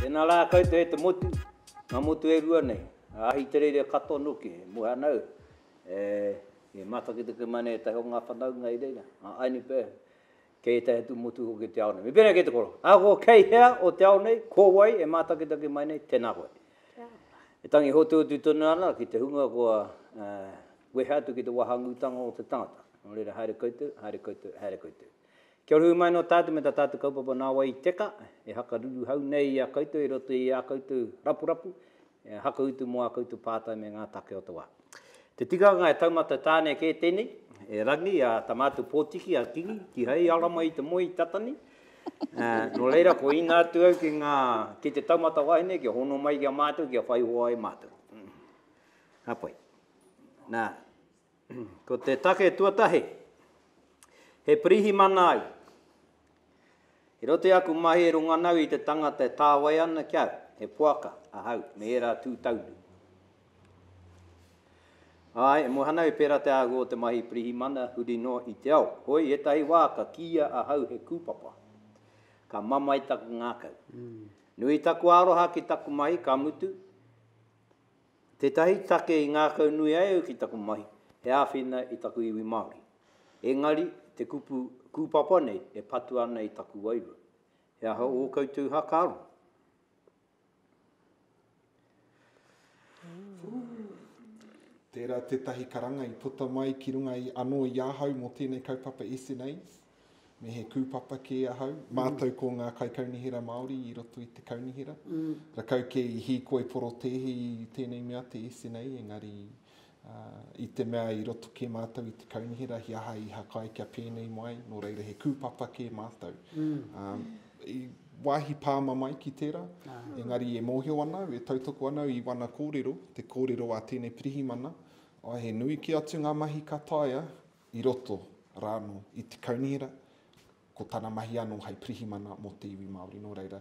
Tēnā rā koutou e te motu, ngā motu e rua nei, a Ahitereiria katoa noa ki he Muhanau, e, i matakitaki mai nei ētahi o ngā whanaunga i reira, a Ainipea, kei ētahi atu motu hoki o te ao nei. Me pēnei kei te koro, ahakoa kei hea o te ao nei, ko wai e mātakitaki mai nei, tēnā koe. E tangi hotuhotu tonu ana ki te hunga kua wehe atu ki te wahangūtanga o te tangata. Nō reira, haere koutou, haere koutou, haere koutou. Kia ora hui mai nō tātou me tā tātou kaupapa nā wai i teka, e hakaruruhau nei i a koutou i roto i ā koutou rapurapu, E hakautu mo a koutou pātai me ngā take o te wā. Te tikanga e taumata tāne kē tēnei, e Rangi, a Tamaatu Potiki, a Kingi, kihai ara mai te moe i tata nei. Nō reira, ko ina atu au ki ngā, ki te taumata wahine kia hono mai ki a mātou kia whai hoa ai mātou. Ka pai. Nā. Ko te take tuatahi, he pirihimana ai. I roto i aku mahi e runga nau i te tangata e tāwai ana ki au, he poaka ahau me ērā tū taunu. Āe, e moe ana au i pērā te āhua o te mahi pirihimana huri noa i te ao. Hoi, ētahi wā ka kīia ahau he kūpapa. Ka mamae taku ngākau. Nui taku aroha ki taku mahi, ka mutu, Tētahi take i ngākaunui ai au ki taku mahi, he āwhina i taku iwi Māori. Engari, te kupu kūpapa nei e patu ana i taku wairua. He aha ō koutou hakaaro? Tērā tētahi karanga i puta mai ki runga i anō i ahau mō tēnei kaupapa SNAs. me he kūpapa kē ahau, mm. mātou ko ngā kaikaunihera Māori i roto i te kaunihera. Mm. Rakau kē i hīkoi porotēhi i tēnei mea te SNA, engari uh, i te mea i roto kē mātou i te kaunihera, hi aha i hakai kia pēnei mai, nō reira he kūpapa kē mātou. Mm. Um, i wāhi pāma mai ki tērā, ah. engari e mōhio ana au, e tautoko ana au i wana kōrero, te kōrero a tēnei pirihimana, ai he nui ki atu ngā mahi ka taia, i roto rānō i te kaunihera, ko tana mahi anō hei pirihimana mō te iwi Māori. Nō reira,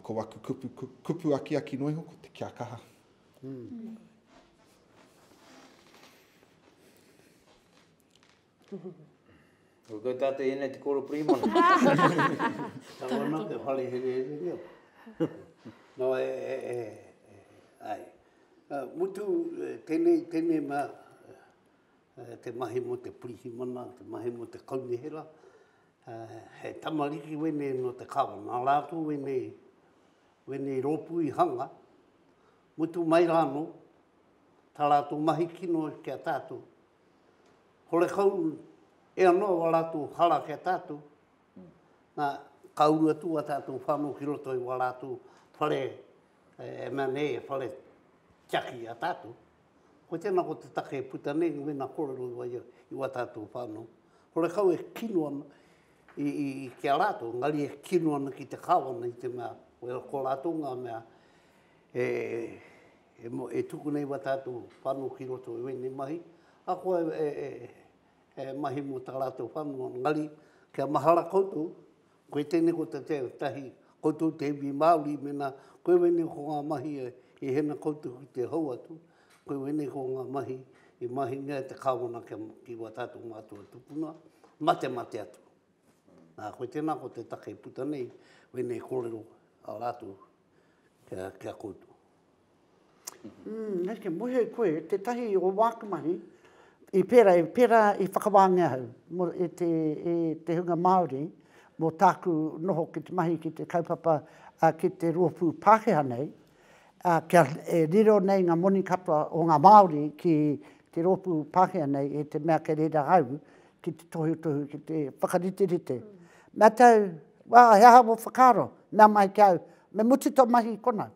ko aku kupu, kupu akiaki noa iho, ko te kia kaha. Mm. Ko koe tātou ēnei te kōro pirihimana. Tāwana te whare here here reo. No, e, e, e, e, ai. Uh, mutu, tēnei, tēnei mā, te mahi mo te pirihimana, te mahi mo te kaunihera, he tamariki wenei no te kawa, na ratou wenei, wenei ropu i hanga, mutu mai ra no, ta ratou mahi kino ki a tatou, horekau e ano o a ratou hara ki a tatou, na ka uru atu a tatou whano ki roto i o a ratou whare, e mea nei, whare tiaki i a tatou. Hoi tēnā ko te take e puta nei, mēnā kōrero i waia i wā tātou whānau, horekau e kino ana ki a rātou, engari e kino ana ki te Kāwana i te mea, ko rātou ngā mea e tuku nei wā tātou whānau ki roto i wēnei mahi, ahakoa e mahi mō tā rātou whānau, engari kia mahara koutou, Koe tēnei ko te tahi koutou te iwi Māori mēnā koe wēnei ko ngā mahi i hena koutou ki te hou atu, koe wēnei ko ngā mahi i mahingia e te Kāwana ki wā tātou mātua tupuna, mate mate atu. Nā koe tēnā ko te take i puta nei wēnei kōrero a rātou kia koutou. Mm, neke mohi ai koe, tetahi o waku mahi, i pera, i pera i whakawaangia au, mo e te, e te hunga Maori, mo taku noho ki te mahi ki te kaupapa, a ki te roopu Pakeha nei, a kia e riro nei nga moni katoa o nga Maori ki te roopu Pakeha nei e te mea kei reira au ki te tohutohu ki te whakariterite. Na tau, wa he aha wo whakaaro? Mea mai ki au, me mutu to mahi kona.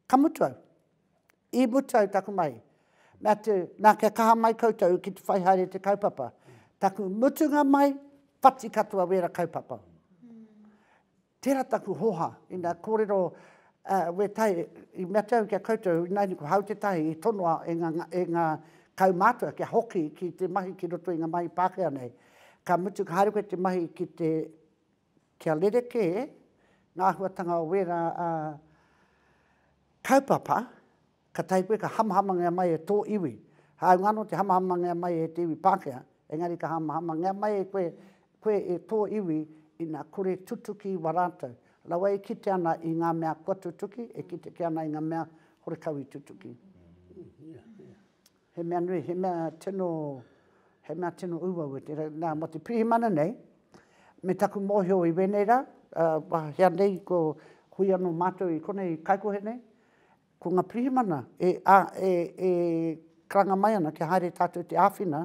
Ka mutu au. I mutu au taku mahi. Me atu, na kia kaha mai koutou ki te whai haere te kaupapa. Taku mutunga mai, whati katoa wera kaupapa. Tera taku hoha, ina korero we tai, i me atu au kia koutou, inaina ko Hau Te Tahi i tonoa e nga kaumatua kia hoki ki te mahi ki roto i nga mahi Pakea nei. Ka mutu ka haere koe te mahi ki te kia rerekē ngā āhuatanga o wērā kaupapa, ka tahi koe ka hamahamangia mai e tō iwi. Hāunga anō te hamahamangia mai e te iwi Pākehā, engari ka hamahamangia mai e koe, koe e tō iwi ina kore tutuki i wā rātou. Rawa e kite ana i ngā mea kua tutuki, e kite kē ana i ngā mea horekau i tutuki. He mea nui, he mea tino, he mea tino uaua tērā. Nā, mō te pirihimana nei, me taku mōhio i wēnei rā, ā, hea nei ko hui anō mātou i konei kaikohe nei, ko ngā pirihimana e, ā, e, e karanga mai ana kia haere tātou te āwhina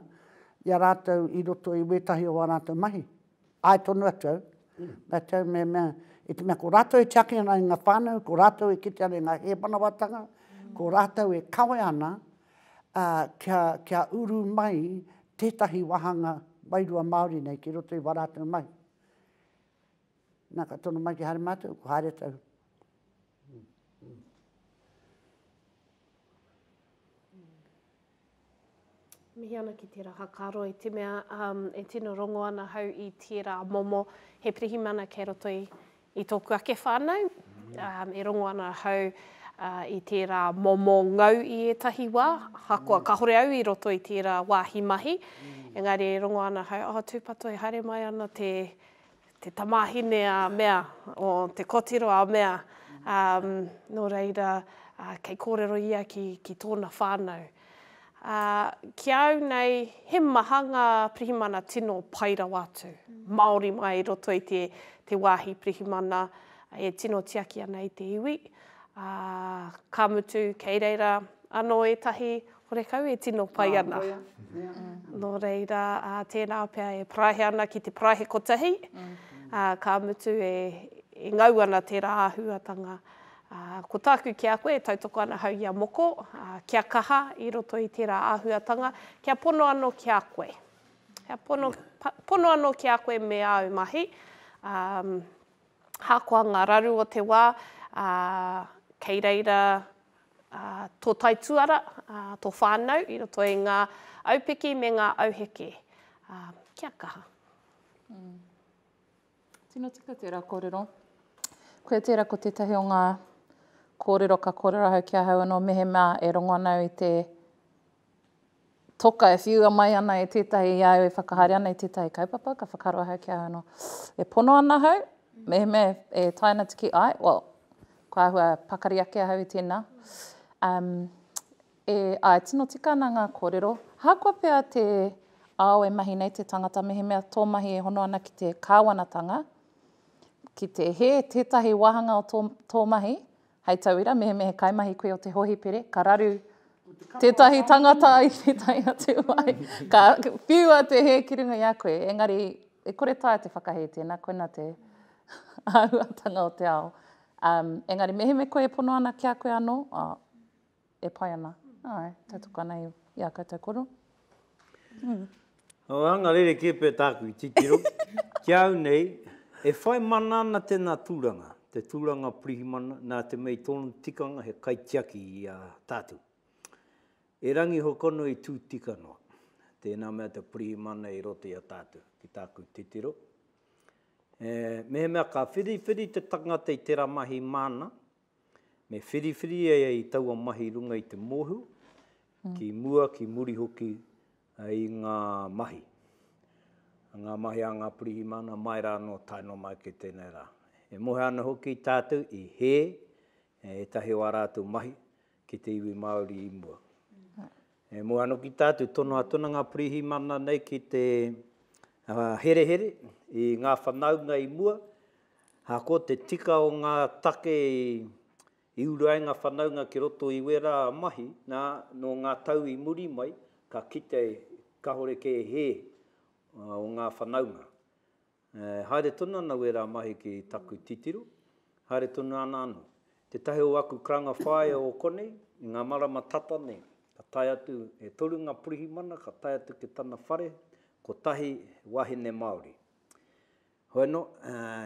i a rātou i roto i wētahi o ā rātou mahi. Ae tonu atu au, me tau me mea, i te mea ko ratou e tiaki ana i nga whanau, ko ratou e kite ana i nga hemanawatanga, ko ratou e kawe ana, a, kia, kia uru mai tetahi wahanga wairua Maori nei ki roto i wa ratou mahi. Na, ka tono mai ki haere matou, ko haere tau. Mihi ana ki tērā whakaaro i te mea e tino rongo ana hau i tērā momo he pirihimana kei roto i tōku ake whānau. E rongo ana hau i tērā momo ngau i ētahi wā, ahakoa kāore au i roto i tērā wāhi mahi, engari e rongo ana hau, oh tūpato e haere mai ana te te tamāhine a mea, o te kotiro a mea, ā, nō reira, ā, kei kōrero ia ki, ki tōna whānau. Ā, ki a au nei, he maha ngā pirihimana tino pai rawa atu, māori mai i roto i te, te wāhi pirihimana e tino tiaki ana i te iwi, ā, ka mutu, kei reira anō ētahi Horekau e tino pai ana. Nō reira, tērā pea e parāhe ana ki te parāhe kotahi, ka mutu e ngau ana tērā āhuatanga. Ko tāku ki a koe e tautoko ana hau i a moko, kia kaha i roto i tērā āhuatanga, kia pono anō ki a koe. Kia pono, pono anō ki a koe me āu mahi. Ahakoa ngā raru o te wā, kei reira tō taituara, tō whānau i roto i ngā aupiki me ngā auheke. Kia kaha. Tino tika tērā kōrero. Koia tērā ko tētahi o ngā kōrero ka kōrero ahau ki ahau anō mehemea e rongo ana au i te Toka, e whiua mai ana e tētahi i a au e whakahaere ana i tētahi kaupapa, ka whakaaro ahau ki ahau anō, e pono ana ahau, mehemea e tae ana te kī, āe, well, ko āhua pakari ake ahau i tēnā. Um, e, āe, tino tika ana ngā kōrero. Ahakoa pea te ao e mahi nei te tangata, mehemea tō mahi e hono ana ki te kāwanatanga, ki te hē tētahi wāhanga o tō, tō mahi, Hei tauira, mehemea he kaimahi koe o te hohipere, ka raru tētahi tangata i tētahi atu wai, ka whiua te hē ki runga i a koe, engari e kore taea te whakahē tēnā, koinā te āhuatanga o te ao. Um, engari mehemea koe e pono ana ki a koe anō, oh, e pai ana, āe, tautoko ana i ā koutou koro. Ō, anga rerekē pea tāku i titiro, ki a au nei, e whai mana ana tēnā tūranga, te tūranga pirihimana, nā te mea i tōna tikanga he kaitiaki i a tātou. E Rangi Hokono i tū tika noa, tēnā mea te pirihimana i roto i a tātou, ki tāku titiro. E, mehemea ka whiriwhiri te tangata i tērā mahi māna, Me whiriwhiri e i taua mahi runga i te mohu, ki mua, ki muri hoki i ngā mahi. Ngā mahi a ngā pirihimana mai rā anō tae noa mai ki tēnei rā. E mohe ana hoki tātou i hē ētahi o ā rātou mahi ki te iwi Māori i mua. E mua anō ki tā te tono a Tuna Ngā Pirihimana nei ki te herehere i ngā whanaunga i mua, ā, ko te tika o ngā take i uru ai ngā whanaunga ki roto i wērā mahi, nā, nō ngā tau i muri mai, ka kite kāore kē hē o ngā whanaunga. Haere tonu ana wērā mahi ki taku titiro, haere tonu ana anō. Tētahi o aku karanga whāea o konei, i ngā marama tata nei, ka tae atu, e toru ngā pirihimana ka tae atu ki tana whare, kotahi he wāhine Māori. Hoeno,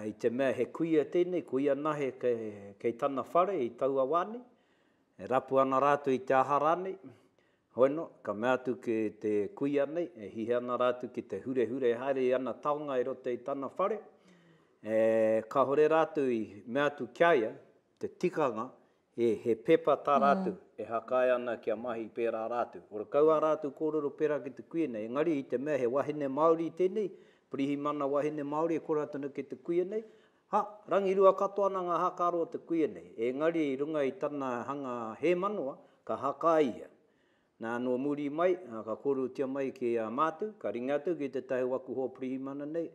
i te mea he kuia tēnei, ko ia nahe kei tana whare i taua wā nei, e rapu ana rātou i te aha rānei, Hoena, ka mea atu ki te kuia nei, e hihe ana rātou ki te hurehure haere i ana taonga i roto i tana whare, ē, kāore rātou i mea atu ki a ia te tikanga, ē, he pepa tā rātou e hakae ana kia mahi pērā rātou. Ora kau ā rātou kōrero pērā ki te kuia nei, engari i te mea he wahine Māori tēnei, pirihimana wahine Māori e kora atu ana ki te kuia nei, Ha, rangirua katoa ana ngā hākaro o te kuia nei, ēngari i runga i tana hanga hēmanoa, ka haka ai ia. Nā, nō muri mai, ka kōrerotia mai ki a mātou, ka ringa atu ki tētahi o aku hoa pirihimana nei,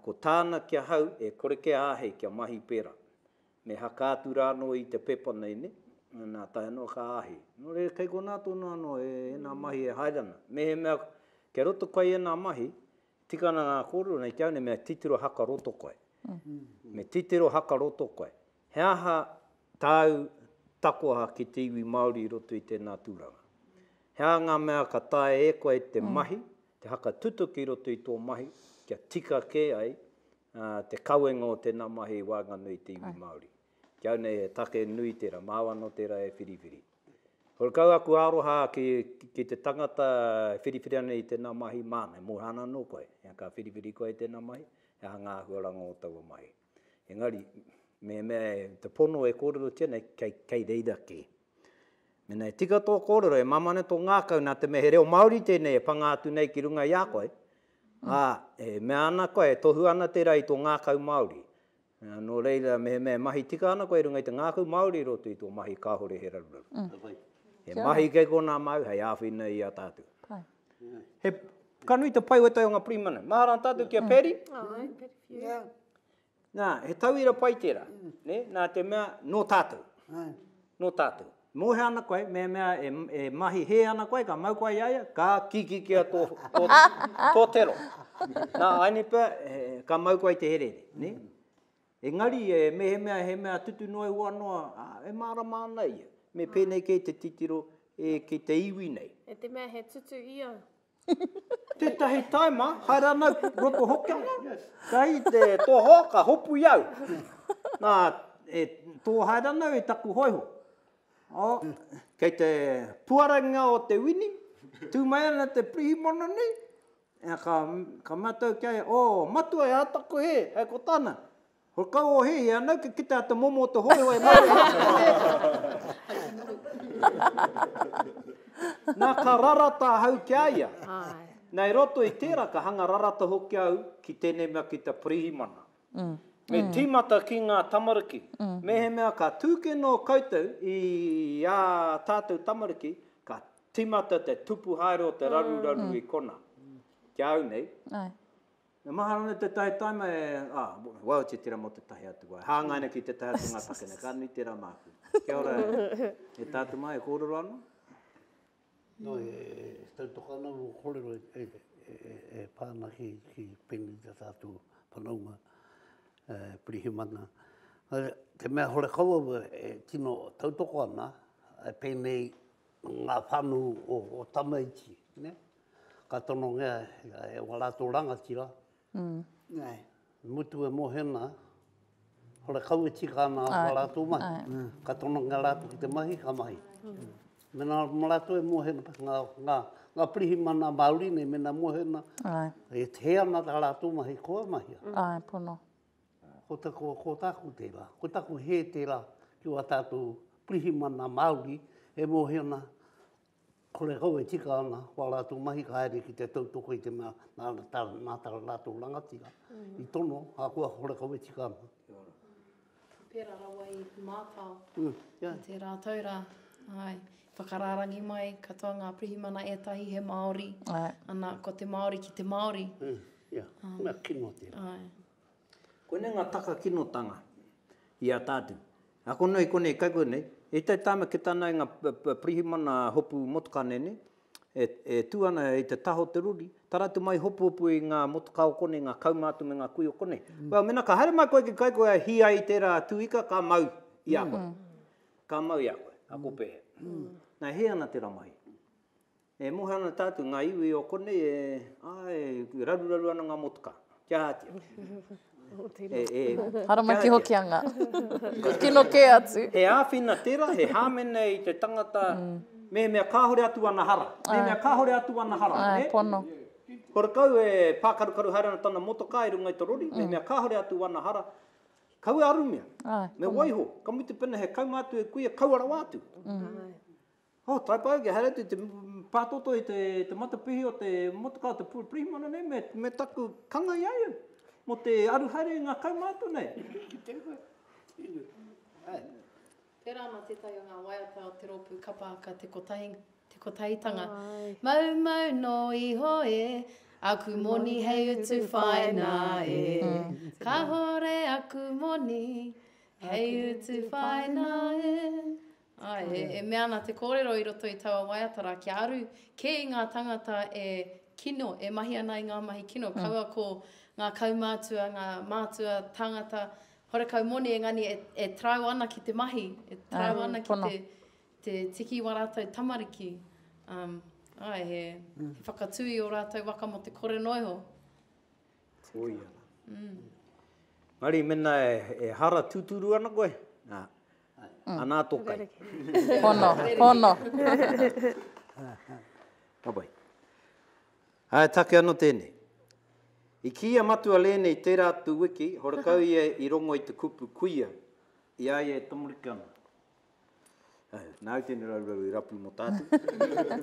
ko tāna ki ahau e kore kia āhei kia mahi pērā. Me haka atu rānō i te pepa nei, nē? Nā, tae noa ka āhei. Nō reira, kei konā tonu anō ēnā mahi e haere ana. Mehemea kei roto koe i ēnā mahi, Tika ana ngā kōrero nei ki au nei me titiro haka roto koe. Me titiro haka roto koe. He aha tāu takoha ki te iwi Māori i roto i tēnā tūranga? He aha ngā mea ka taea e koe te mahi, te haka tutuki i roto i tō mahi kia tika kē ai te kawenga o tēnā mahi i waenganui i te iwi Māori? Ki au nei he take nui tērā, māu anō tērā e whiriwhiri. Ko kau aku aroha ki ki te tangata e whiriwhiri ana i tēnā mahi māna, e moha ana anō koe, ā, ka whiriwhiri koe i tēnā mahi, he aha ngā āhuaranga o taua mahi. Engari, mehemea e, te pono e kōrerotia nei, kei, kei reira kē. Mēnā e tika tō kōrero, e māmā ana tō ngākau nā te mea he reo Māori tēnei e panga atu nei ki runga i a koe, ā, e mea ana koe, e tohu ana tērā i tō ngākau Māori, Nō reira, mehemea e mahi tika ana koe i runga i te ngākau Māori i roto i tō mahi kāore he raruraru. He mahi kei konā māu hei āwhina i a tātou. He, ka nui te pai o ētahi o ngā pirihimana. Mahara ana tātou ki a Paddy. Nā, he tauira pai tērā. Nē, nā te mea, nō tātou. Nō tātou. Mōhio ana koe, mehemea e mahi hē ana koe, ka mau koe i a ia, ka kikikia tō tero. Nā, āinei pea, ka mau koe i te herehere, nē? Engari, mehemea he mea tutu noa ihoa noa, e mārama ana ia. Me pēnei kē te titiro ki te iwi nei. E te mea he tutu i au. Tetahi taima, haere ana ki roto hoki ana, kai te toho ka hopu i au. Na, e to haere ana au i taku hoiho. Oh, kei te puarangia o te wini, tu mai ana te pirihimana nei, ka, ka matou kia, oh, matua e ata koe he, hei ko tana. Ho kau o he ia nau ke kita te momo o te hoi hoi ma te Na ka rarata ahau ki a ia. Na i roto i tera ka hanga rarata hoki au ki tenei mea ki te Pirihimana. Me timata ki nga tamariki. Mehemea ka tu ke no koutou i a tatou tamariki ka timata te tupu haere o te raruraru i kona. Ki a au nei. E maha ana te tae taima e, ah, waw te tera mo te tahi atu wai. Hangai ana ki te tahi atu nga take nei, ka nui tera maku. Kia ora e tatu mai, e korero ana? No, e tautoka ana mo korero e pa ana ki penei te tatu whanaunga e pirihimana. Te mea hore kau au e tino tautoko ana, e penei nga whanu o tamaiti, ne? ka tonongea e wā rātou rangatira, i mutu e mohena, hore kau e tika ana wā rātou mahi, ka tonongea rātou ki te mahi, ka mahi. Mēnā mō rātou e mohena, ngā pirihimana Māori nei, mēnā mohena, e hē ana tā rātou mahi, kua mahia. Āe, pono. Ko taku, ko tāku tērā, ko taku hē tērā ki wā tātou pirihimana Māori e mohena Kore kau e tika ana, ko a rātou mahi ka haere ki te tautoko i te mea nā tā rātou rangatira i tono, ahakoa kore kau e tika ana. Kia ora. Pērā rawa i mātao i tērā tau rā. Āe. Whakarārangi mai katoa ngā pirihimana ētahi he Māori, ana, ko te Māori ki te Māori. Ia, he mea kino tērā. Āe. Koinei ngā taka kinotanga i a tātou. Nā konei i konei kaikua nei, i te taima ki tāna i ngā pirihimana hopu motokāne nei, e tū ana i te taha o te rori, tara atu mai hopuhopu i ngā motokā o konei, ngā kauma atu me ngā kui o konei. Well, mēnā ka haere mai koe ki kaikua e hī ai i tērā tū ika, ka mau i a koe. Ka mau i a koe, ako pēhea. Nā, e hē ana tērā mahi. E moe ana tātou, ngā iwi o konei e, āe, e raruraru ana ngā motuka. Kia ātia. e, e, Haramaki kia hoki anga. Kino kē atu. He āwhina tērā, he hāmene i te tangata. Mm. Mehemea kāore atu ana hara. Ai. Mehemea kāore atu ana hara. Ai, e? pono. Ko rakau e pākarukaru haere ana tana motoka i runga i te rori, mm. mehemea kāore atu ana hara. Kau e arumia. Ai, me pono. waiho, ka mutu pena he kaunga atu e kuia, kaua rawa atu. Mm. Ai. Oh, taipai ake, haere atu te pātoto i te matapihi o te motokā, te pirihimana nei, me taku kanga i a ia, mō te aru haere i ngā kaumātua nei. Ki te ingoa, inu. Tērā ana tētahi o ngā waiata o te rōpū kapa aka Te Kotahi, Te Kotahitanga. Mau mau nō iho e, aku moni hei utu whaina e. Kahore aku moni hei utu whaina e. Āe, e mea ana te kōrero i roto i taua waiata rā, kia aru kē i ngā tāngata e kino, e mahi ana i ngā mahi kino, kaua ko ngā kaumātua, ngā mātua tāngata horekau moni engani e tarau ana ki te mahi, e tarau ana ki te tiki i wā rātou tamariki. Āe, he whakatū i ō rātou waka mō te kore noa iho. Koia rā. Engari mēnā e hara tūturu ana koe, Anā tō kai. Hono, hono. Ka pai. Ā, e take ana tēnei. I kī a Matua Lēne i tērā atu wiki, horekau ia i rongo i te kupu kuia i a ia e tamariki ana. Ā, nāu tēnei raurau i rapu mō tātou.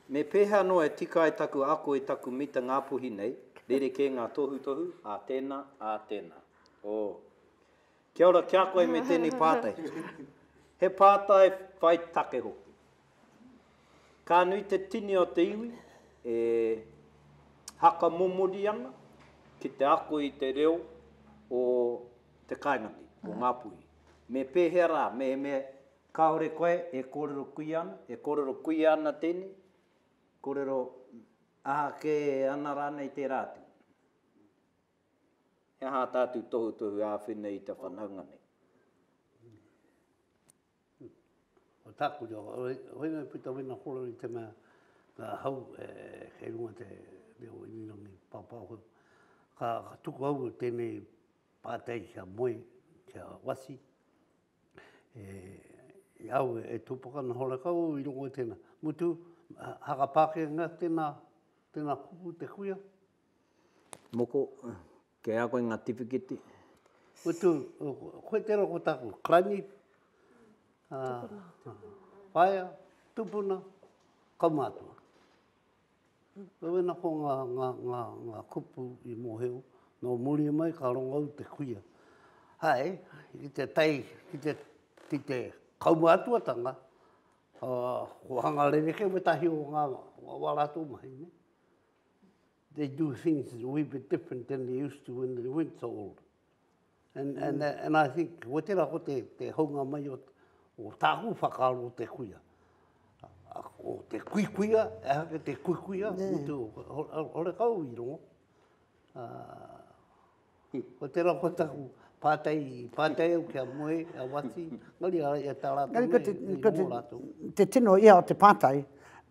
Me pēhea noa e tika ai taku ako i taku mita Ngāpuhi nei, rerekē ngā tohutohu, ā tēnā, ā tēnā. Ō. Kia ora kia koe me tēnei pātai. He pātai whai take hoki. Ka nui te tini o te iwi e haka momori ana ki te ako i te reo o te kaingati, o ngā puhi. Me pēhea rā, mehemea kāore koe e kōrero kuia ana, e kōrero kuia ana tēnei, kōrero aha kē ana rānei tērā atu. He aha tātou tohutohu āwhina i te whanaunga nei? Ko tāku reo, whāinga puta wina koro i te mea ka hau kei runga te reo irirangi pāpāho. Ka tuku au i tēnei pātai kia moe, kia wasi, e au e tūpaka ana horekau au i runga i tēnā. Mutu, haka Pākehā tēnā, tēnā kupu te kuia, Moko, Kei a koe ngā tiwhikete? Utu, Koe tērā ko tāku Kranyi, Whaea, Tupuna, Kaumātua. Wena ko ngā kupu i mōhio, nō muri mai ka rongo au te kuia. Hai, ki te tae, ki te kaumātuatanga, ko hanga rerekē wētahi o ngā wā rātou mahi. they do things a wee bit different than they used to when they weren't so old. And, and, uh, and I think, ko te rako te, te haunga mai o, o tāku whakaaro o te kuia. O te kui kuia, e hake te kui kuia, yeah. utu, ore kau i rongo. Uh, Ko te ra ko taku pātai, pātai au ki a moe, a Wati, engari ara i a tā rātou nei, nei ko ō rātou. Te tino ia o te pātai,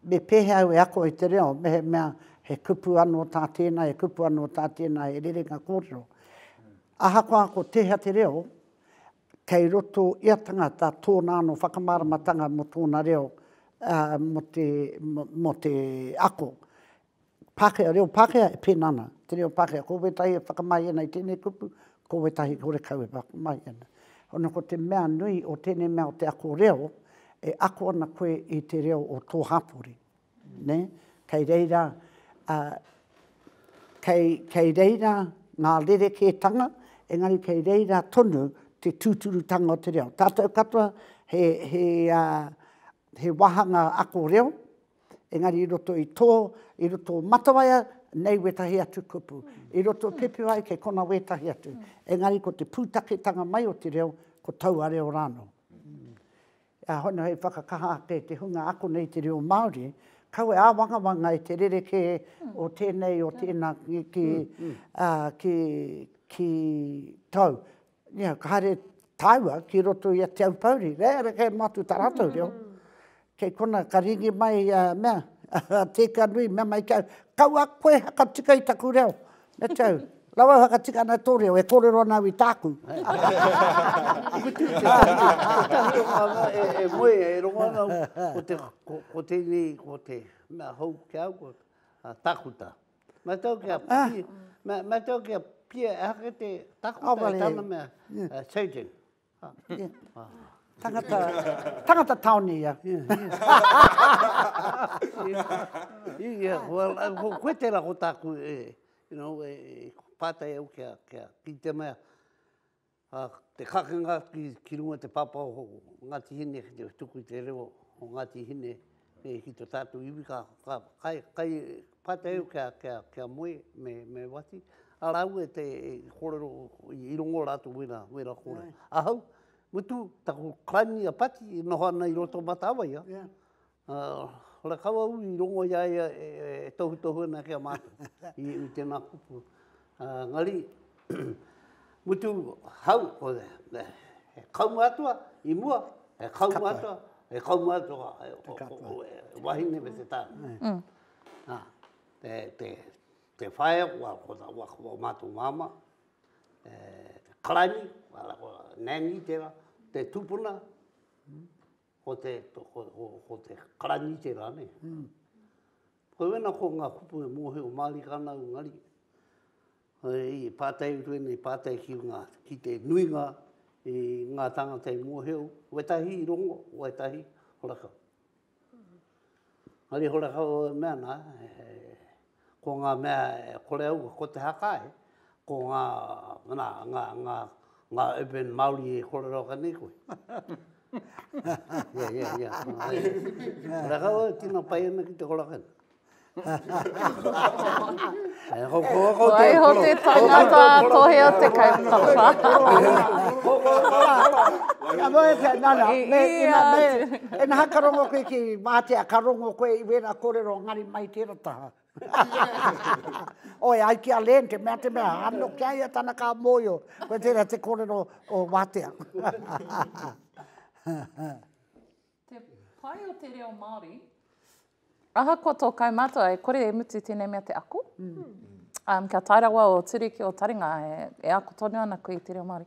me pēhea au e ako i te reo mehemea he kupu anō tā tēnā, he kupu anō tā tēnā, he rerenga kōrero. Ahakoa ko tēhea te reo, kei roto i a tangata tōna anō whakamāramatanga mō tōna reo, mō te, mō te ako. Pākehā, reo Pākehā e pēnā ana, te reo Pākehā, ko wētahi e whakamahi ana i tēnei kupu, ko wētahi horekau e whakamahi ana. Ono ko te mea nui o tēnei mea o te ako reo, e ako ana koe i te reo o tō hapori. Nē? Kei reira, ā, kei, kei reira ngā rerekētanga, engari kei reira tonu te tūturutanga o te reo. Tātou katoa he, he, ā, he wāhanga ako reo, engari i roto i tō, i roto o Matawaia, nei wētahi atu kupu. I roto o Pepewae, kei kona wētahi atu. Engari ko te pūtaketanga mai o te reo, ko taua reo rānō. Ā, hono hei whakakaha ake i te hunga ako nei te reo Māori, kaua e āwangawanga e te rerekē o tēnei, o tēnā, ki, ki, ki, ki tau. Ia, ka haere tāua ki roto i a Te Aupōuri, kei reira kei mātou tā rātou reo. Kei konā, ka rīngi mai i a mea, a Tēkea Nui, mea mai ki au, kaua koe hakatika i taku reo. Me te au, rawa e whakatika ana i tō reo, e kōrero ana au i tāku. Tētahi o ngā mea e moe, e rongo ana au, ko te, ko tēnei, ko te mea hou ki a au, ko takuta. Mai tau kia pia, mai tau kia pia e hake te takuta e tana mea, changing. Tangata, tangata taone ia. Ia, well, koe tērā ko tāku e, you know, e pātai au kia, kia, ki te mea, A te kakenga atu ki runga te pāpā o Ngāti Hine ki te tuku i te reo o Ngāti Hine ki to tātou iwi ka kai pātai au ki a Moe me Wati, a rāua e kōrero i rongo rātou wēra kōrero. Ahau, mutu taku clan i a Pati i noho ana i roto o Matawaia. Ā, rakau au i rongo i a ia e tohutohu ana ki a mātou i tēnā kupu. Ā, engari, mutu hau, he kau mātua i mua, he kau mātua, he kau mātua e wahine me te tāne. Ā, te whaea kua ko mātou māmā, karaini, nanny tērā, te tupuna, Ko te, ko te karanite ra ne. Koina ko nga kupu e mohio marika ana u ngari. I patai utu ene, i patai ki nga, ki te nuinga i nga tangata i mohio, wetahi i rongo, wetahi horakau. Ngari horakau e mea na, Ko ngā mea e kore au, ko te haka e, ko ngā, nā, ngā, ngā, ngā urban Māori e kōrero ake nei koe. Ia, ia, ia. Rakau au, tino pai ana ki te korakau. Waiho te tangata tohe o te kaupapa. Ka noe te, nā, nā, me, me, me, e naha ka rongo koe ki Mātea, ka rongo koe i wēra kōrero ngari mai tērā. taha. Oi, ai ki a Len, te mea, te mea, ano ki aia tana ka moio, koe tera te korero o Watea. te pai o te reo Māori, ahakoa tō kaumātua e kore e mutu tēnei mea te ako, mm. um, kia tae rawa o Turiki o Taringa e, e ako tonu ana koe i te reo Māori.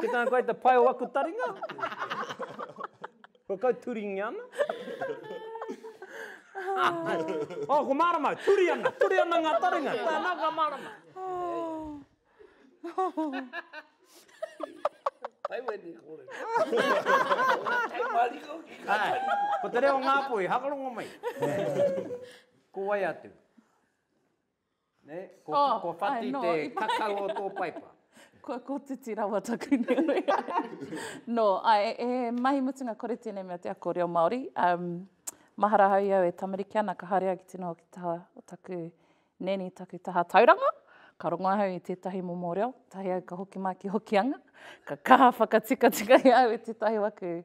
Ki tāna koe te pai o aku taringa. Ko kau turingi ana. Oh, ko mārama, turi ana, turi ana ngā taringa. Tāna ka mārama. Taiwani e kore. Hei mariko ki ka tariku. Ko te reo Ngāpuhi, hakarongo mai. Ko wai atu? Nē? Kua whati te kakau o tō paipa. Kua kotiti rawa taku nui. Nō, āe, he mahi mutunga kore tēnei mea te ako reo Māori. Mahara ahau i au e tamariki ana, ka haere au ki te noho ki te taha o taku nēni, taku taha tauranga. Ka rongo ahau i tētahi momo reo, tahi au ka hoki mā ki Hokianga, ka kaha whakatikatika i au i tētahi waku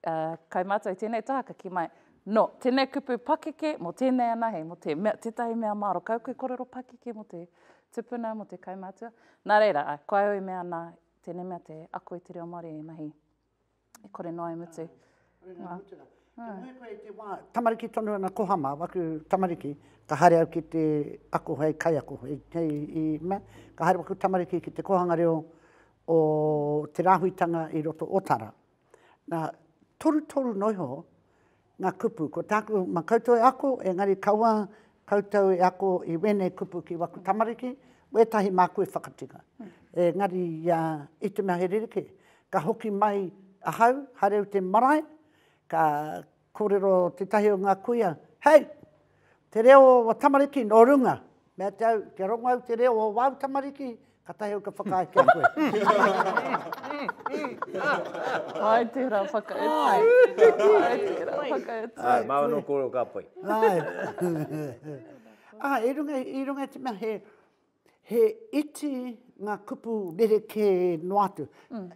Kai mātou tēnei tāka ki mai. Nō, tēnei kupu pakeke mō tēnei anahe, mō te mea, tētahi mea māro. Kau koe korero pakeke mō te tupuna, mō te kaumātua. Nā reira, ā, ko au i mea nā, tēnei mea te ako i te reo Māori i mahi, i kore noa i mutu. Āe, ngā mutunga. Ka moe koe i te wā, tamariki tonu ana ko Hama, waku tamariki, ka haere au ki te ako hei kaiako, hei, hei, i mea, ka haere waku tamariki ki te kōhanga reo o te rāhuitanga i roto o Tara. Nā, torutoru noa iho ngā kupu. Ko tāku, mā koutou e ako, engari kaua koutou e ako i wēnei kupu ki waku tamariki, wētahi māku e whakatika. Engari i te mea he rerekē, ka hoki mai ahau, haere au te marae, ka Kōrero tētahi o ngā kuia, Hei! Te reo o aua tamariki nō runga! Mea te au, kia rongo au te reo o wāu tamariki, kātahi au ka whakaae ki a koe. Āe tērā whakaetu. Āe, māu anō kōrero ka pai. Āe. Āe, i runga i te mea he He iti ngā kupu rerekē noa atu.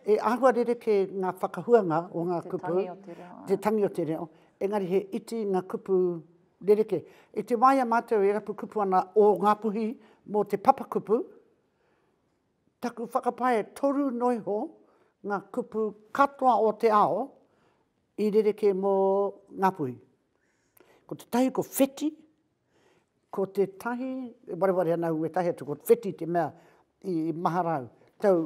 He āhua rerekē ngā whakahuanga o ngā kupu. Te tangi o te reo. Te tangi o te reo, engari he iti ngā kupu rerekē. I te wā i a mātou e rapu kupu ana o Ngāpuhi mō te papakupu, taku whakapae toru noa iho ngā kupu katoa o te ao i rerekē mō Ngāpuhi. Ko tētahi ko wheti, Ko tētahi, e wareware ana au wētahi atu, ko Wheti te mea i mahara au. Tau,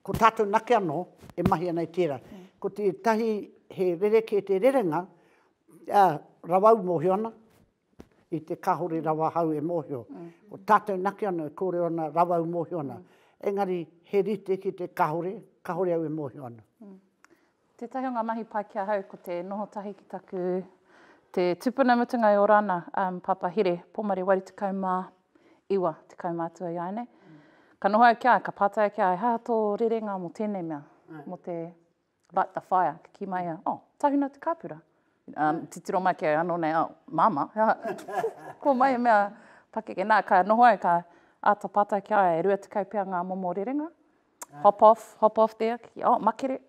ko tātou nake anō e mahi ana i tērā. Ko tētahi he rerekē te rerenga, ā, rawa au mōhio ana, i te kāore rawa ahau e mōhio. Ko tātou nake anō e kōrero ana rawa au mōhio ana. Engari he rite ki te kāore, kāore au e mōhio ana. Tētahi o ngā mahi pai ki ahau ko te noho tahi ki taku te tupuna mutunga e ora ana, um, Pāpā Here, Pomare Wari 19, 10 mātua i āianei. Ka noho au ki a, ka pātai ki a, he aha tō rerenga mō tēnei mea, mō te light the fire, ka kī mai ia, oh, tahuna te kāpura. Um, titiro mai ki au, anō nei, oh, māma, he aha, ko mai e mea pakeke. Nā, ka noho au, ka āta pātai ki a, e 20 pea ngā momo rerenga, Hop off, hop off there, ki, oh, makere,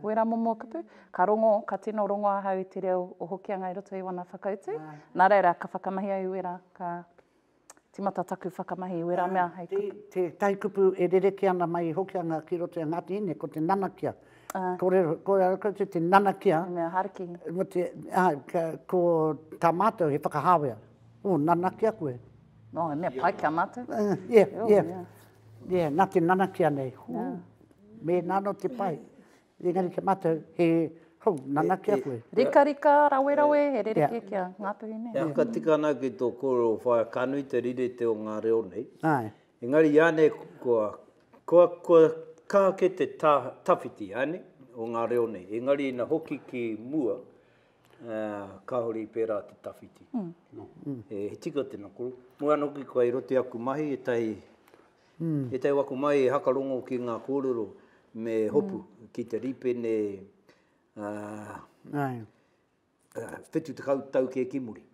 wera momo kupu. Ka rongo, ka tino rongo ahau i te reo o Hokianga i roto i wana whakautu. Nā reira, ka whakamahi au i wera, ka timata taku whakamahi i wera mea hei kupu. Te tahi kupu e rereke ana mai i Hokianga ki roto i a Ngāti Hine, ko te nanakia. Kōrero, kōrero koutou te nanakia. He mea hariki. Mō te, ko tā mātou he whakahāwea. Oh, nanakia koe. Oh, he mea pai ki a mātou. Yeah, yeah. Yeah, na te nanakia nei, hoo, mena ano te pai, engari kia matou he, hoo, nanakia koe. Rikarika, rawerawe, he rerekē kia ngātuhi nei. E whakatika ana ki tō kōrero whaea, ka nui te rirete o ngā reo nei. Āe. Engari iānei kua, kua, kua kaha kē te tā, tawhiti, āe nei, o ngā reo nei. Engari ina hoki ki mua, Kāore i pērā te tawhiti. He tika tēnā koro. Mo ana hoki kua i roto aku mahi ētahi, ētahi o aku mahi e hakarongo ki ngā kōrero me hopu ki te rīpene whitu tekau tau kē ki muri.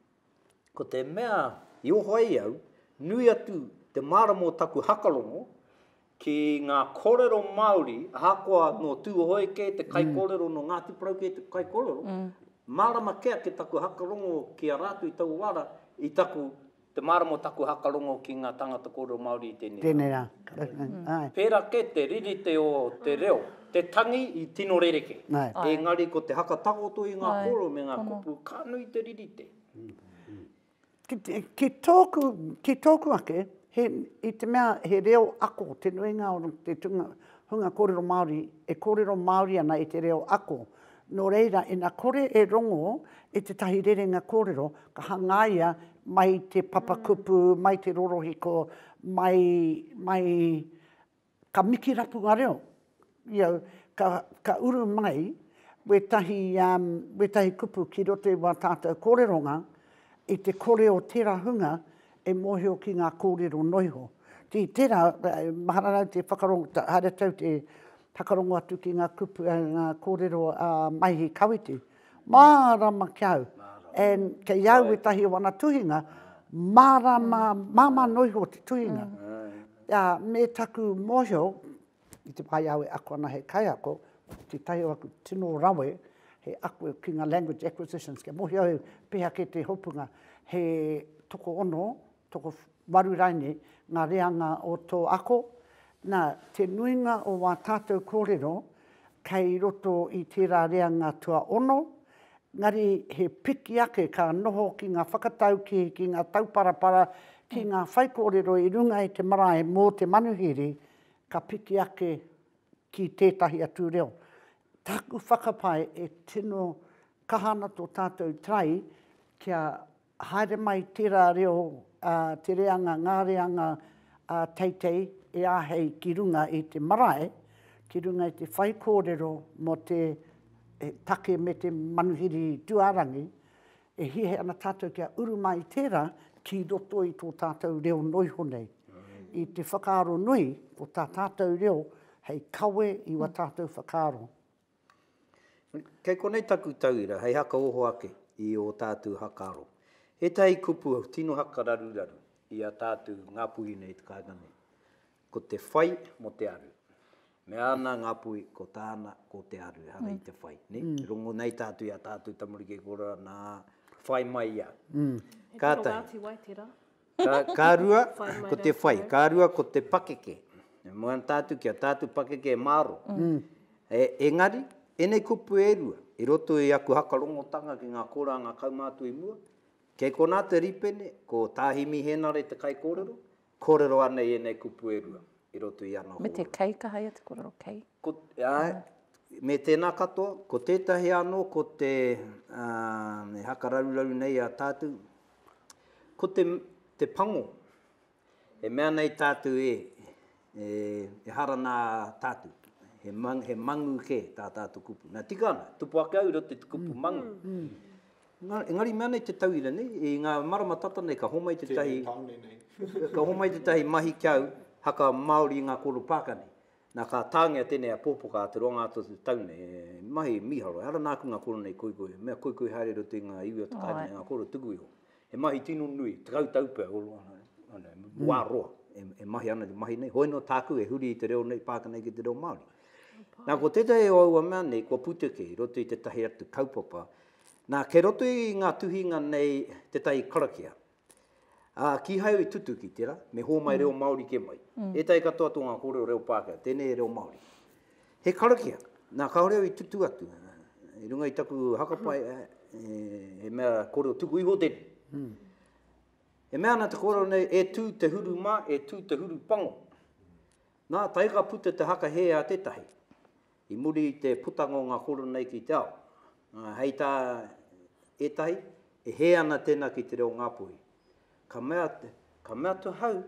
Ko te mea i oho ai au, nui atu te mārama o taku hakarongo ki ngā kōrero Māori, ahakoa nō Tūhoe kē te kaikōrero, nō Ngāti Porou kē te kaikōrero, mārama kē ake taku hakarongo ki a rātou i taua wā rā, i taku, te mārama o taku hakarongo ki ngā tāngata kōrero Māori i tēnei rā. Tēnei rā, āe. Pērā kē te ririte o te reo, te tangi i tino rerekē. Engari ko te haka takoto i ngā kōrero me ngā kupu, ka nui te ririte. Ki tōku, ki tōku ake, he, i te mea he reo ako te nuinga o te tūnga, hunga kōrero Māori e kōrero Māori ana i te reo ako. Nō reira, ina kore e rongo i tētahi rerenga kōrero, ka hangaia mai te papakupu, mai te rorohiko, mai, mai, Ka miki rapunga reo, you know, ka, ka uru mai wētahi, um, wētahi kupu ki roto i wā tātou kōreronga, i te kore o tērā hunga e mōhio ki ngā kōrero noa iho. Ki tērā, mahara rau te whakarongo, haere tau te whakarongo atu ki ngā kupu, ngā kōrero a Maihi Kawiti. Mārama ki au, and kei au ētahi o ana tuhinga, mārama, māmā noa iho te tuhinga. Ā, me taku mōhio, i te wā i au e ako ana hei kaiako, tētahi o aku tino rawe, he ako ki ngā language acquisitions, kia mōhio au pēhea kē te hopunga, he tokoono Tokowaru rainei ngā reanga o tō ako, nā, te nuinga o wā tātou kōrero kei roto i tērā reanga tuaono, engari he piki ake ka noho ki ngā whakataukī, ki ngā tauparapara, ki ngā whaikōrero i runga i te marae mō te manuhiri, ka piki ake ki tētahi atu reo. Taku whakapae e tino kaha ana tō tātou try kia Haere mai tērā reo, ā, te reanga, ngā reanga ā teitei e āhei ki runga i te marae, ki runga i te whaikōrero mō te take me te manuhiri tuārangi, e hiahia ana tātou kia uru mai i tērā ki roto i tō tātou reo noa iho nei, i te whakaaro nui o tā tātou reo hei kawe i wā tātou whakaaro. Kei konei taku tauira hei haka oho ake i ō tātou haka aro. Ētahi kupu tino haka raruraru i a tātou Ngāpuhi nei i te kāinga nei, ko te whai mō te aru. Me āna Ngāpuhi, ko tāna, ko te aru ehara i te whai. Rongo nei tātou i a tātou tamariki e kore ana, ā, whai mai ia. Kātahi. He tino wāti wai tērā. Ka rua, ko te whai. Ka rua, ko te pakeke. E moe ana tātou ki a tātou pakeke e mārō. Engari, ēnei kupu e rua, i roto i aku hakarongotanga ki ngā kōranga kaumātua i mua, kei konā te rīpene, ko Tā Himi Hēnare te kaikōrero, kōrero ana i ēnei kupu e rua, i roto i ana hōia. Me te kei kaha ia te kōrero, kei? Āe, me tēnā katoa. Ko tētahi anō, ko te, e hakararuraru nei i a tātou, Ko te, te pango, e mea nei tātou e, e, e hara nā tātou. He, mang, he mangu kē tā tātou kupu. Nā, tika ana, tupu ake au i roto i te kupu mangu. Engari, engari mea nei te tauira nei, i ngā marama tata nei ka homai tētahi, ka homai tētahi mahi ki au, haka Māori i ngā kōrero pāka nei. Nā, ka tāngia tēnei apōpoka a Te Roanga-a-Totu Tau nei, e mahi mīharo, ehara nāku ngā koro nei koikoi, mea koikoi haere i roto i ngā iwi o te kāinga me ngā koro tuku iho. He mahi tino nui, tekau tau pea, wā roa e mahi ana te mahi nei, hoi nō tāku e huri i te reo nei, pākina ki te reo Māori. Nā, ko tētahi o aua mea nei, kua puteke i roto i tētahi atu kaupapa, nā, kei roto i ngā tuhinga nei tētahi karakia, Ā, kīhai au i tutuki, tērā, me hōmai reo Māori kē mai. Ētahi katoa tō ngā kōrero reo Pākehā, tēnei he reo Māori. He karakia. Nā, kāore au i tutu atu, i runga i taku hakapai, he mea kōrero tuku iho tēnei. E mea ana te kōrero nei, e tū te huru mā, e tū te huru pango. Nā, tae ka puta te haka hē a tētahi, I muri i te putanga o ngā kōrero nei ki te ao, hei tā ētahi, e hē ana tēnā ki te reo Ngāpuhi. Ka mea, ka mea atu ahau,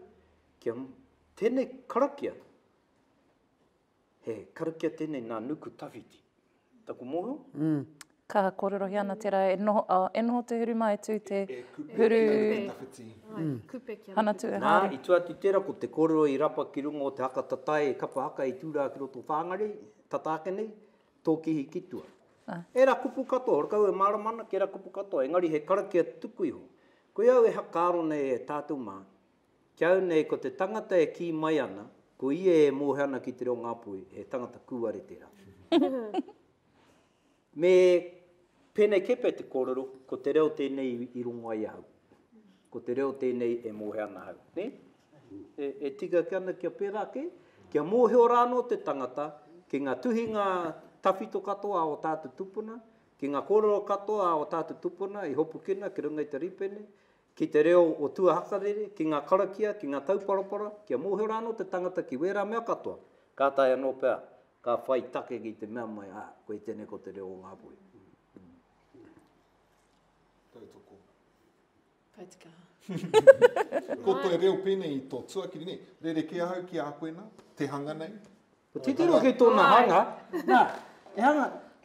kia tēnei karakia, he karakia tēnei nā Nuku Tawhiti. Taku mōhio? Ka kōrerohia ana tērā e noho, oh, e noho te huru mā e tū te huru... Kupe tawhiti. Mm. Kupe kia hana tū e haere. Nā, i tū atu i tērā, ko te kōrero i rapa ki runga o te haka tatae e kapa haka i tū rā ki roto whāngarei, tata ake nei, tōkihi ki tua. Ah. Ērā kupu katoa, horekau e mārama ana ki ērā kupu katoa, engari he karakia tuku iho. Koia au e hakaaro nei e tātou mā, ki au nei ko te tangata e kī mai ana, ko ia e mōhio ana ki te reo Ngāpuhi, he tangata kūare tērā. Me pēnei kē pea te kōrero, ko te reo tēnei i rongo ai ahau. Ko te reo tēnei e mōhio ana ahau. Nē? E, e tika ake ana kia pērā kē, kia mōhio rā anō te tangata ki ngā tuhinga tawhito katoa a o tātou tupuna, ki ngā kōrero katoa a o tātou tupuna i hopukina ki runga i te rīpene, ki te reo o tuahakarere, ki ngā karakia, ki ngā tauparapara, kia mōhio rā anō te tangata ki wērā mea katoa, ka taea anō pea ka whai take ki te mea mai, ah, koe tenei ko te reo o Ngāpuhi. Tautoko. Paitikaha. ko te reo pēnei i tō tuakiri, ne? Rere ke ahau ki a koe nā, te hanga nei. Ko titiro ki tōna hanga, nā, e hanga,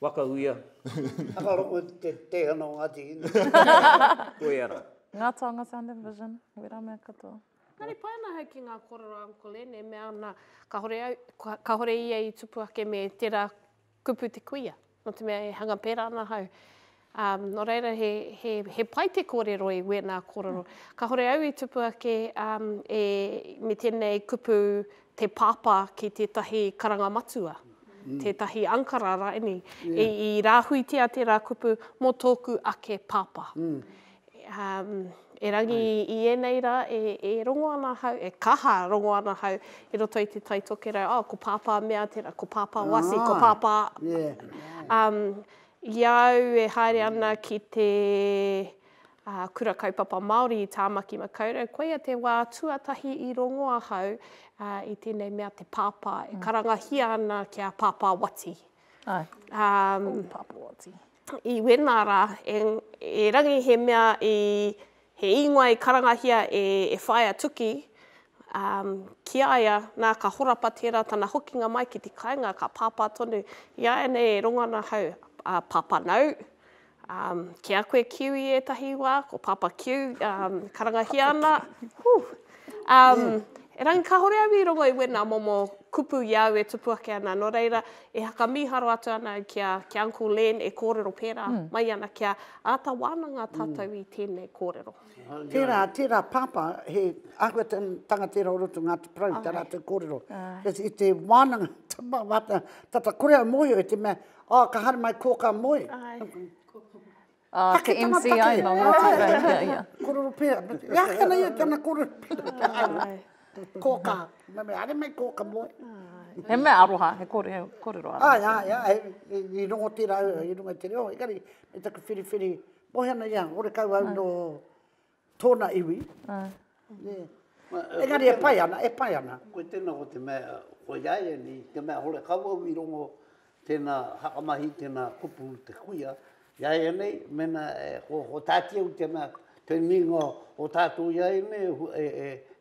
Waka uia. Whakarongo te teihana o Ngāti Hine. Koia ra. Nga taonga sound and vision, wera mea katoa. Engari pai ana ahau ki nga korero a Uncle Len e mea ana kahore au, kahore ia i tupu ake me tera kupu te kuia, no te mea e hanga pera ana ahau. Ā, nō reira, he, he, he pai te kōrero i wēnā kōrero. Kāhore au i tupu ake um, e, me tēnei kupu te pāpā ki tētahi karanga matua, mm. tētahi ankara raini, yeah. i, i rāhuitia tērā kupu mō tōku ake pāpā. Mm. Um, e rangi mm. i ēnei rā, e, e rongo ana hau, e kaha rongo ana hau i roto i te tai tokerau, oh, ko pāpā mea tērā, ko pāpā wasi, ah, ko pāpā... Yeah. Um, I a au e haere ana ki te Kura Kaupapa Māori i Tāmaki Makaurau, koia te wā tuatahi i rongo ahau i tēnei mea te pāpā, e karangahia ana ki a Pāpā Wati. Ai, ko Pāpā Wati. I wēnā rā, e Rangi he mea i He ingoa i karangahia e e Whaea Tuki, ā, ki a ia, nā, ka horapa tērā tana hokinga mai ki te kāinga, ka pāpā tonu, Iāianei e rongo ana ahau, ā, pāpā nāu, ā, ki a koe Kiu i ētahi wā, ko Pāpā Kiu, ā, karangahia ana, hū, ā, erangi kāore au i rongo i wēnā momo kupu i a au e tupu ake ana, nō reira, e haka mīharo atu ana au ki a, ki a Uncle Len e kōrero pērā mai ana ki a Āta wānanga tātou i tēnei kōrero. Tērā, tērā Pāpā, he āhua tanga tērā o roto i Ngāti Porou, tā rātou kōrero. I te wānanga, tata kore au mōhio i te mea, oh, ka haere mai kō ka moe. Take tana take. Kōrero pērā. He aha tēnā ia, tēnā kōrero pērā. Kōkā. Nā me haere mai kōkā moe. He mea aroha, he kōrero aroha. Āe, āe, āe, i rongo tērā au i runga i te reo, engari me taku whiriwhiri, mohi ana ia, horekau au nō tōna iwi. Engari e pai ana, e pai ana. Koe tēnā ko te mea, koiāiani, te mea horekau au i rongo Tēnā whakamahi, tēnā kupu te kuia. Iāianei, mēnā ko Tāti au tēnā te nuinga o tātou iāianei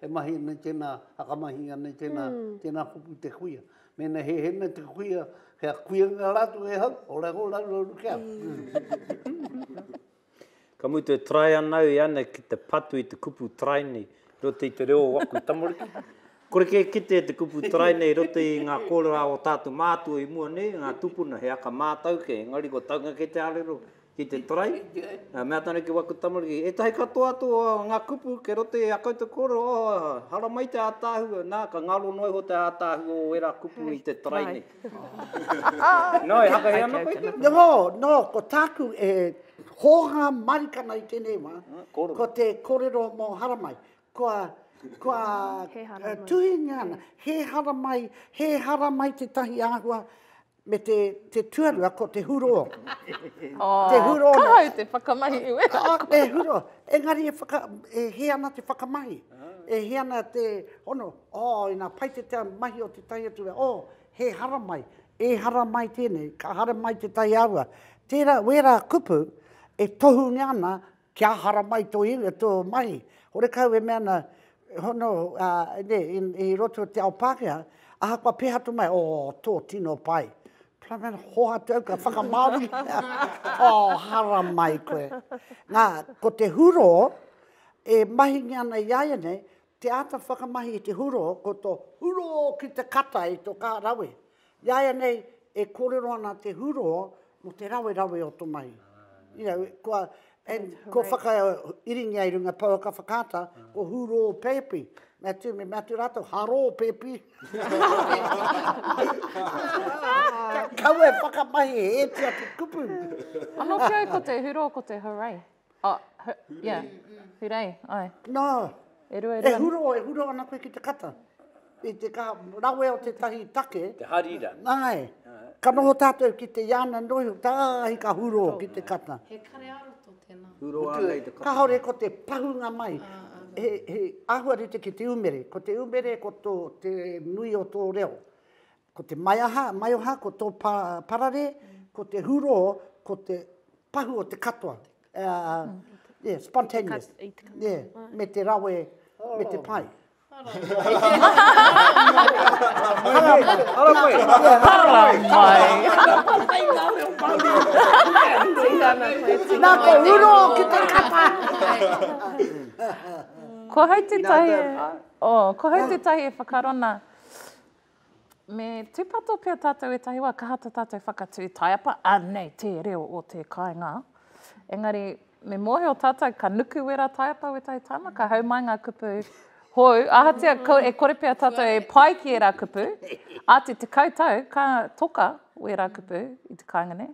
e mahi ana i tēnā whakamahi ana i tēnā, tēnā kupu te kuia. Mēnā he hēnga te kuia, kia kuia ngā rātou e hau, ora iho rāua uru kia. Ka mutu e try ana au i ana ki te patu i te kupu try nei roto i te reo o aku tamariki. Kore kē kite e te kupu try nei roto i ngā kōrerā o tātou mātua i mua nei, ngā tupuna, he aka mātau kē, engari kua taunga kē te arero ki te try. Ka mea tāna ki waku tamariki, ētahi katoa atu o ngā kupu kei roto i a koutou kōrero, oh, haramai te ātaahua, nā, ka ngaro noa iho te ātaahua o ērā kupu i te try nei. Nō, e haka hea ana koe te? Nō, nō, ko tāku e hōhā marikana i tēnei wā, ko te kōrero mō Haramai. Kua, kua tuhingia ana, he haramai, he haramai tētahi āhua me te, te tuarua ko te hurō. Te hurō. Ka hau te whakamahi i wera koe. Te hurō. Engari e whaka, e hē ana te whakamahi. E hē ana te hono. Oh, ina pai te tea mahi o tetahi atu wera, oh, he haramai, e haramai tenei, ka haramai tetahi aua. Tera, wera kupu e tohungia ana kia haramai to iwi, to mahi. Horekau e mea na, hono, nei, i roto te ao Pakea, ahakoa peha atu mai, oh, to, tino pai. Plamel, hoatu au ka whakamaori. oh, haramai koe. Na, ko te huro, e mahingia ana i a ia nei, Te āta whakamahi i te huro, ko to huro ki te kata i to kaha rawe. Iaianei e korero ana te huro mo te rawe rawe o to mahi. You know, kua, and kua whaka iringia i runga pouaka whakaata, ko huro pepi. Mea tu, me mea tu ratou, haro pepi. Ka kaua e whakamahi he eti atu kupu. Ano ki au ko te huro ko te hooray. Oh, hu, hurei. Yeah. Hurei, ai. Nā, e, rua, e, rua. e huro, e huro ana koe ki te kata. I te ka rawe o te tahi take. Te harira. Nāe. Ka noho tātou ki te iana noi, tāhi ka huro ki te kata. He kare aro tō tēnā. Huro ana i te kata. Ka hore ko te pahunga mai. Ah, ah, ah. He, he āhua rite ki te umere. Ko te umere, ko tō, te nui o tō reo. Ko te maiaha, maioha, ko tō pa, parare, ko te hurō, ko te pahu o te katoa. Uh, yeah, spontaneous. Yeah, me te rawe, me te pai. Nā ko uro ki te kapa. Ko hau te tahi, oh, ko hau te tahi e whakarona. Me tūpato pea tātou e tahi wā, kaha tā tātou whakatū taiapa, anei te reo o te kāinga. Engari, me mōhio tātou ka nuku wera taiapa wētahi tāma, ka hau mai ngā kupu hou, ahatia e kore pea tātou e pai ki ērā kupu, āti tekau tau ka toka wērā kupu i te kāinga nei.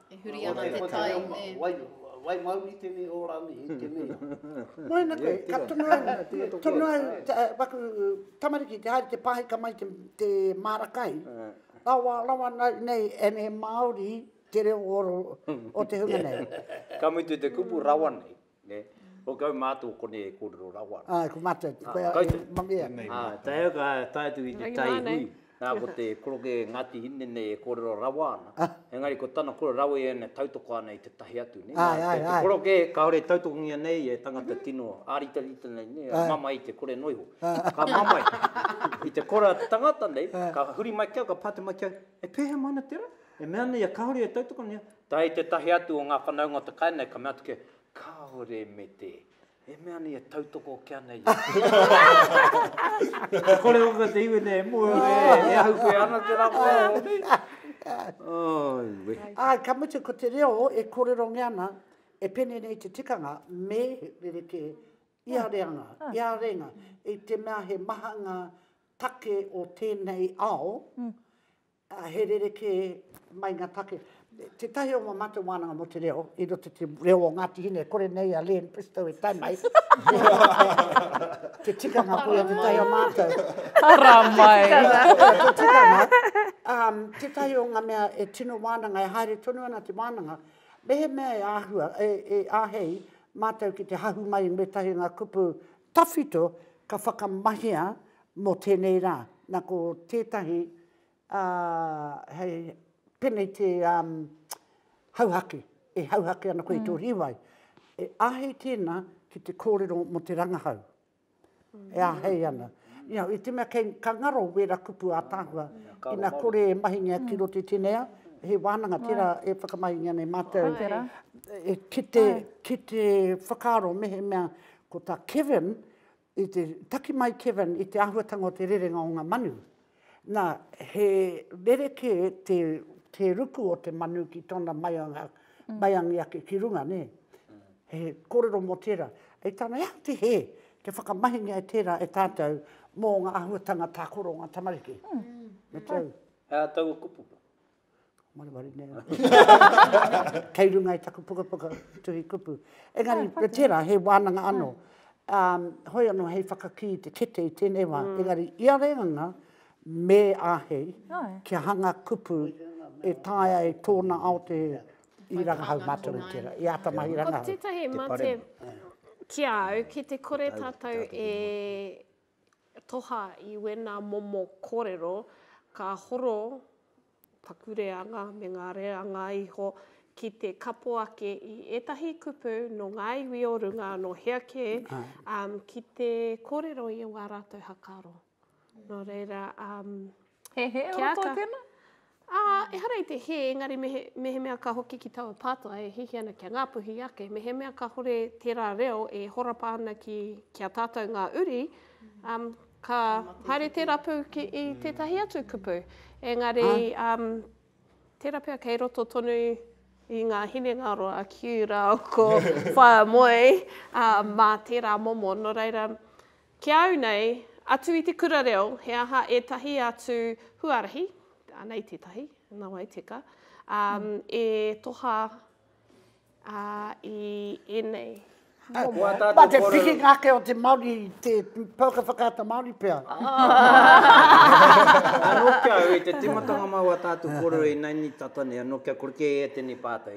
E huri ana te tai, nē. Wai mauri tenei o ranei i tenei o. Moena koe, ka tono au, tono au waku tamariki te haere te pahika mai te mara kai, rawa, rawa nei and he Māori te reo o te hunga nei. Ka mutu te kupu rawa nei, Nē. Ko kau mātou konei e kōrero rawa ana. Āe, ko mātou, koe a Mangia. Ā, tae au ka tae atu ki te tai hui, nā, ko te koroke Ngāti Hine nei e kōrero rawa ana, engari ko tana koro rawa i ēnei tautoko ana i tētahi atu, nē. Āe, āe, āe. Te koroke kāore e tautokongia nei e tangata tino āritarita nei, nē, e mamae i te kore noa iho. Ka mamae, i te kore a te tangata nei, ka huri mai ki au, ka pātai mai ki au, e pēhea mai ana te rā? E mea nei ia kāore e tautokongia, Tae tētahi atu o ngā whanaunga o te kai nei, ka mea atu kia, Kāore me te, e mea nei e tautoko ake ana i a. Ka kore hoki te iwi nei e moe ora e ahu koe ana te rā moe ora nei. Oi wehi. Ā, ka mutu ko te reo e kōrerongia ana, e pēnei nei te tikanga, me rerekē, i a reanga, i a rēnga, i te mea he maha ngā take o tēnei ao, Ā, he rerekē mai ngā take. Tētahi o ngā mātou wānanga mō te reo, i roto i te reo o Ngāti Hine, kore nei a Len Bristow e tae mai. te tikanga, koia tētahi o mātou. Ara mai! te tikanga, um, tētahi o ngā mea e tino wānanga, e haere tonu ana te wānanga, mehemea e āhua, e, e āhei mātou ki te hahu mai i ngētahi o ngā kupu tawhito ka whakamahia Mō tēnei rā, nā ko tētahi hei peneti hauhake, e hauhake ana koe i tō rīwai, e āhiti ana ki te kōrero mō te rangahau, e āhei ana. I te mea kei, ka ngaro wēra kupu ātaahua, ina kore e mahingia ki roto i tēnei ao, he wānanga tērā e whakamahingia nei mātou ki te whakaaro mehemea ko tā Kevin I te taki mai Kevin i te āhuatanga o te rerenga o ngā manu, nā, he rerekē te, te ruku o te manu ki tōna maianga, maiangi ake ki runga, nē. He kōrero mō tērā. Hei tāna, he aha te hē kia whakamahingia e tērā e tātou mō ngā āhuatanga tākoro o ngā tamariki? Me tau. He aha taua kupu? Maramari nei au. Kei runga i taku pukapuka tuhi kupu. Engari, ah, tērā, he wānanga ah. anō. Um, hoi anō hei whakakī i te kete i tēnei wā. Mm. Engari, i a renganga, me āhei oh. kia hanga kupu e taia e tōna ao te i rangahau mātou i tērā. I āta mahi rangahau. Ko tētahi mate ki au, ki te kore tātou e toha i wena momo korero ka horo taku reanga me nga reanga iho ki te kapo ake i etahi kupu no nga iwi o runga no hea ke ki te korero i owa ratou hakaro. No reira He hē o roto i tēnā? Ā, ehara i te hē, engari mehemea ka hoki ki taua pātai e hihi ana kia Ngāpuhi ake, mehemea kāhore tērā reo e horapa ana ki a tātou ngā uri, ka haere te rapu ki i tētahi atu kupu. Engari, tērā pea kei roto tonu i ngā hinengaro a Kiu rāua ko Whaea Moe mā tērā momo, nō reira, Ki a au nei, atu i te kura reo, he aha ētahi atu huarahi, anei tētahi, nā wai teka, e toha i ēnei momo. Mā te pikinga ake o te Māori, te pouaka whakaata Māori pea. Anō kia au, i te tīmatanga māu a tātou kōrero i naini tata nei, anō kia kore kē e tēnei pātai.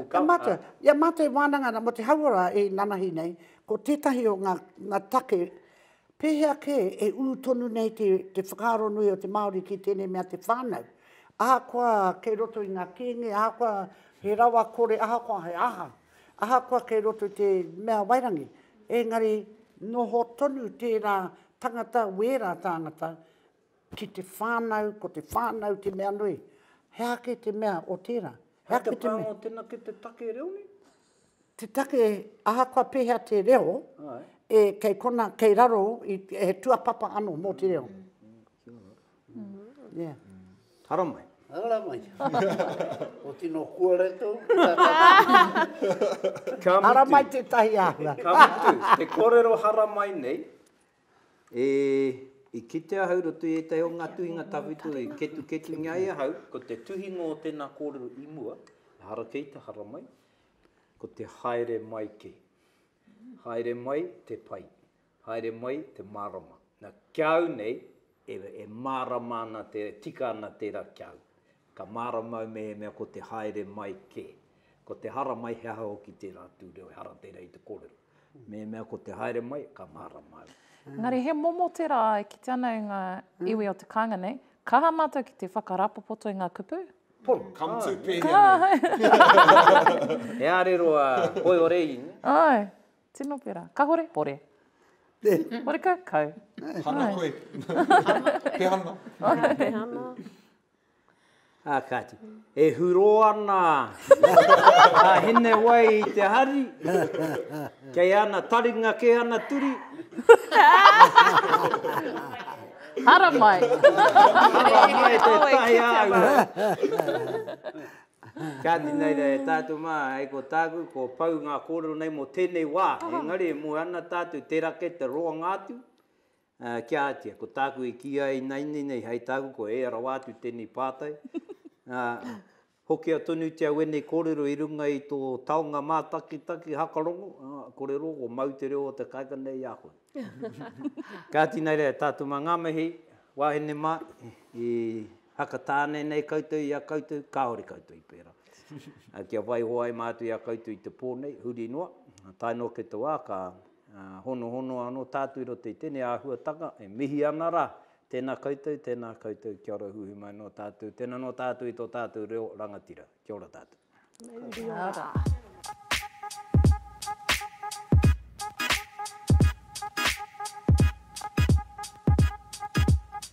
Ia mātou, ia mātou e wānanga ana mō te hauora e nanahi nei, ko tētahi o ngā, ngā take, pēhea kē e ū tonu nei te, te whakaaro nui o te Māori ki tēnei mea te whānau. Ahakoa kei roto i ngā kēnge, ahakoa he rawa kore, ahakoa he aha, ahakoa kei roto i te mea wairangi, engari noho tonu tērā tangata, wērā tāngata, Ki te whānau, ko te whānau te mea nui. He aha kē te mea o tērā? He aha kē te mea? Hei te pānga o tēnā ki te take reo nei? Te take, ahakoa pēhea te reo, kei konā, kei raro, he tuapapa anō mō te reo. Yeah. Ara mai. Ara mai. o tino kuare tō. Ara mai te tahi āhua. Ka mutu, te kōrero hara mai nei, E, i kite ahau roto i etahi o nga tuhinga tawhito i ketuketungia ai ahau, ko te tuhinga o tena korero i mua, ehara kei te haramai, ko te haere mai ke. Haere mai te pai, haere mai te marama. Na, kia au nei, e, e marama ana te, tika ana tera kia au. Ka mārama au mehemea ko te haere mai kē, ko te hara mai he aha hoki tērā tū reo ehara tērā i te kōrero. Mehemea ko te haere mai, ka mārama au. Engari he momo tērā e kite ana e ngā iwi o te kāinga nei, ka aha mātou ki te whakarāpopoto i ngā kupu? Pono. Come to pēhea nei? He ārero a Koiore i. Āe, tino pērā. Kahore, pore. Horekau, kau. Hana koe. Pehana. Pehana. Ā kāti, e hurō ana a Hinewai i te hari, kei ana taringa kē ana turi. Haramai! Haramai tētahi āhua! Kāti nei rā e tātou mā, hei ko tāku, kua pau ngā kōrero nei mō tēnei wā, engari e moe ana tātou, tērā kē te roanga atu, Ā, kia ātia, ko tāku e kī ai nāinei nei hai tāku ko ea rawa atu tēnei pātai, ā, hokia tonutia wēnei kōrero i runga i tō taonga mātakitaki hakarongo, ā, kore rō ko mau te reo o te kāinga nei i a koe. Kāti nā reira, tātou mā ngā mihi, wāhine mā, i Hakatāne nei koutou i a koutou, kāore koutou i pērā. Ā, kia waiho ai mātou i a koutou i te pō nei, huri noa, tae noa ki te wā ka. Honohono ano tatou i roto i tenei ahuatanga, e mihi ana ra, tena koutou, tena koutou, kia ora huihui mai no tatou, tena no tatou i to tatou reo rangatira. Kia ora tatou. Kia ora.